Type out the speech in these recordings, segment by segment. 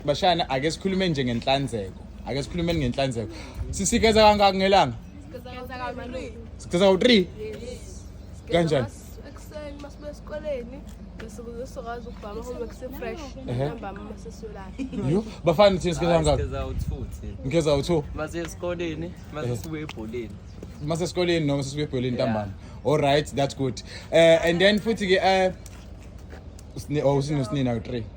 bashana ake sikhulume nje ngenhlanzeko ake sikhulumeni ngenhlanzeko sisigeza kangaki ngelanga sigeza kawu-three kanjani ekuseni uma sibuya esikoleni ngesukuze sizokwazi ukubhama home kusefresh Ehe. ntambama uma sesiyolala Yo, bafana thina sigeza kangaki Sigeza u-two thina. ngigeza u-two Mase esikoleni, mase sibuye ebholeni. uma sesikoleni noma sesibuya ebholeni ntambama alright that's good um and then futhi-ke um usinosini nawu-three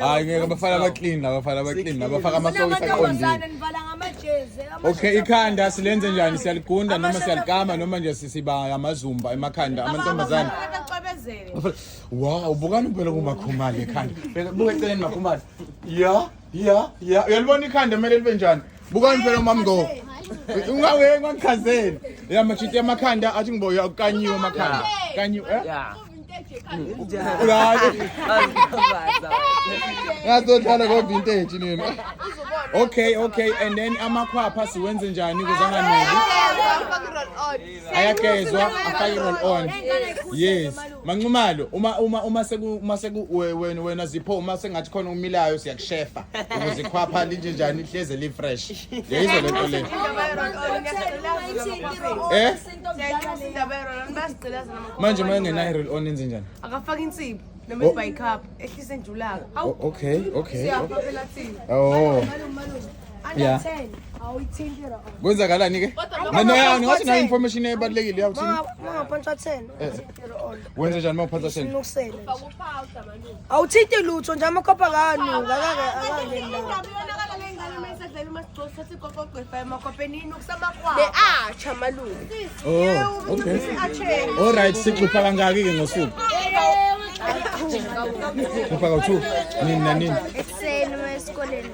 hayi ngeke abafana abaclean abafana abaclean abafaka amasokisi aqondile okay ikhanda silenze njani siyaligunda noma siyalikama noma nje sisiba amazumba emakhanda amantombazane wow bukani phela kumakhumali ekhanda buka eceleni makhumali ya ya ya uyalibona ikhanda kumele libe njani bukani phela umama ngo ungawe ngangichazeni ya machiti amakhanda athi ngibo uyakanyiwa amakhanda kanyiwa eh Yeah. ulale ngazohlala ko vintage nini okay okay and then amakhwapha siwenze njani kuze anganeli ayagezwa afake i-roll on yes manxumalo uma uma uma seku uma seku we- wena wena zipho uma sengathi khona umilayo siyakushefa ukuze ikhwapha linje njani lihleze li-fresh yayizwa le nto le Eh? manje uma engenayo i-roll on enze njani akafaka insipho Oh. noma ibhayikaphu ehlise njulaka O- okay okay Siyapha phela thina oh Yeah. Kwenzakalani ke? Mina yani ngathi na information ebalekile yakuthi. Mama phansi 10. Eh. Wenza njani mama phansi 10? Ukusela. Awuthinti lutho nje amakhopha kanu ngakake akale la. Oh, okay. All right, sixupha kangaki ke ngosuku? Kupaka 2. Nini na nini? Ekuseni esikoleni.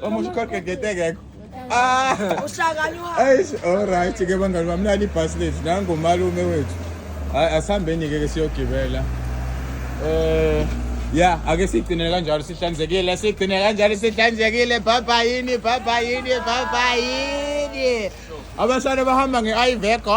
Vamos a correr que te gego. Ah! Eish, all right ke bangani bami nali bus lethu nangu malume wethu. Hayi asihambeni ke ke siyogibela. Eh ya ake sigcine kanjalo sihlanzekile sigcine kanjalo sihlanzekile baba yini baba yini baba yini. Abasana bahamba nge-Iveco.